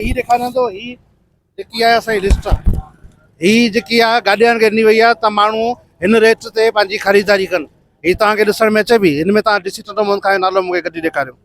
هي ڏيکاريان ٿو هي جيڪي آهي اسان جي لسٽ آهي هي جيڪي آهي گاڏيان کي ڏني وئي آهي ته ماڻهو هن ريٽ تي پنهنجي خريداري ڪن هي توهان کي ڏسڻ ۾ اچي پئي هن ۾ توهان ڊي سي ٽنڊو محمد خان جو نالو مونکي ڪڍي ڏيکاريو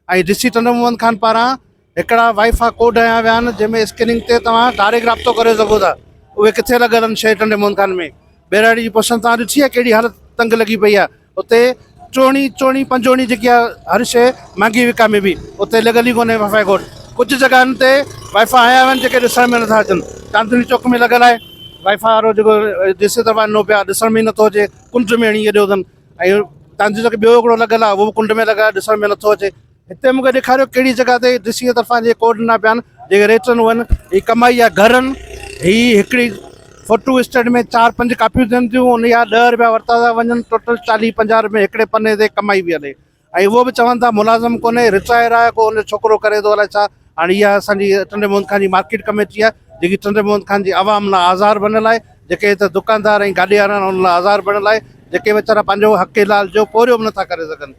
۽ ڊي سي ٽنڊو محمد خان پاران هڪڙا وائي فا ڪوڊ هنيا ويا آهن جنهن ۾ اسڪيننگ تي توهان ڊائريڪٽ رابطو ڪري سگهو ٿا اهي ڪٿي لڳل آهن شهر ٽنڊي محمد خان ۾ ٻهراڙي جي پسند توهان ڏٺي آهي ڪهڙي حالت تنگ لڳي پئي آهي اتي چوڻي چوڻي پنجوڻي جيڪي آهي هر شيء مهانگي وڪامي بي اتي لڳل ئي ڪونهي وائفائي گوٽ ڪجهه جڳهن تي وائفا هيا آهن جيڪي ڏسڻ ۾ نٿا اچن چاندني چوڪ ۾ لڳل آهي وائفا وارو جيڪو جيسي دفعا نو پيا ڏسڻ ۾ نٿو اچي ڪنڊ ۾ هڻي اڏيو اٿن ۽ چاندني چوڪ ٻيو هڪڙو لڳل آهي اهو ڪنڊ ۾ لڳل آهي ڏسڻ ۾ نٿو اچي هتي مونکي ڏيکاريو ڪهڙي جڳهه تي ڊي سي طرفان جي ڪوڊ ڏنا پيا آهن جيڪي ريٽرن هئن هي ڪمائي يا گهرن هي هڪڙي فوٽو اسٽيٽ ۾ چار پنج ڪاپيون ٿين ٿيون ان جا ڏهه روپيا ورتا ٿا وڃن ٽوٽل چاليهه پنجاهه روپيه هڪڙي پني تي ڪمائي پي هلي ۽ اهو به چون ٿا ملازم ڪونهي رٽائر آهي ڪو ان ڇوڪرو ڪري ٿو الائي ڇا هاڻي اها اسان جي ٽنڊي محمد خان جي مارڪيٽ ڪميٽي آهي جيڪي ٽنڊي محمد خان جي عوام لاء آزار بڻيل آهي جيڪي هت دڪاندار ۽ گاڏي وارا آهن ان لاء آزار بڻيل آهي جيڪي ويچارا پنهنجو حق حلال جو پورهيو به نٿا ڪري سگهن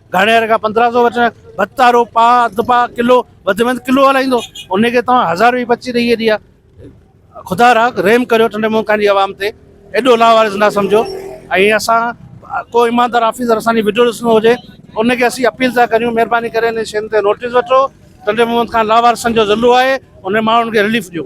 گهڻي هر کان پندرهن سو وٺڻ ڀتا رو پاء اڌ پاء ڪلو وڌ ۾ وڌ ڪلو هلائيندو ان کي توهان هزار روپيه پچي ڏئي هيڏي آ خدا را رحم ڪريو ٺنڊي مونکان جي عوام تي ايڏو لاوارث نه سمجهو ۽ اسان ڪو ايماندار آفيسر اسان جي وڊيو ڏسندو هجي ان کي اسين اپيل ٿا ڪريون مهرباني ڪري ان شين تي نوٽيس وٺو ٽنڊي محمد خان لاوارثن جو ضلعو آهي ان ماڻهن کي رليف ڏيو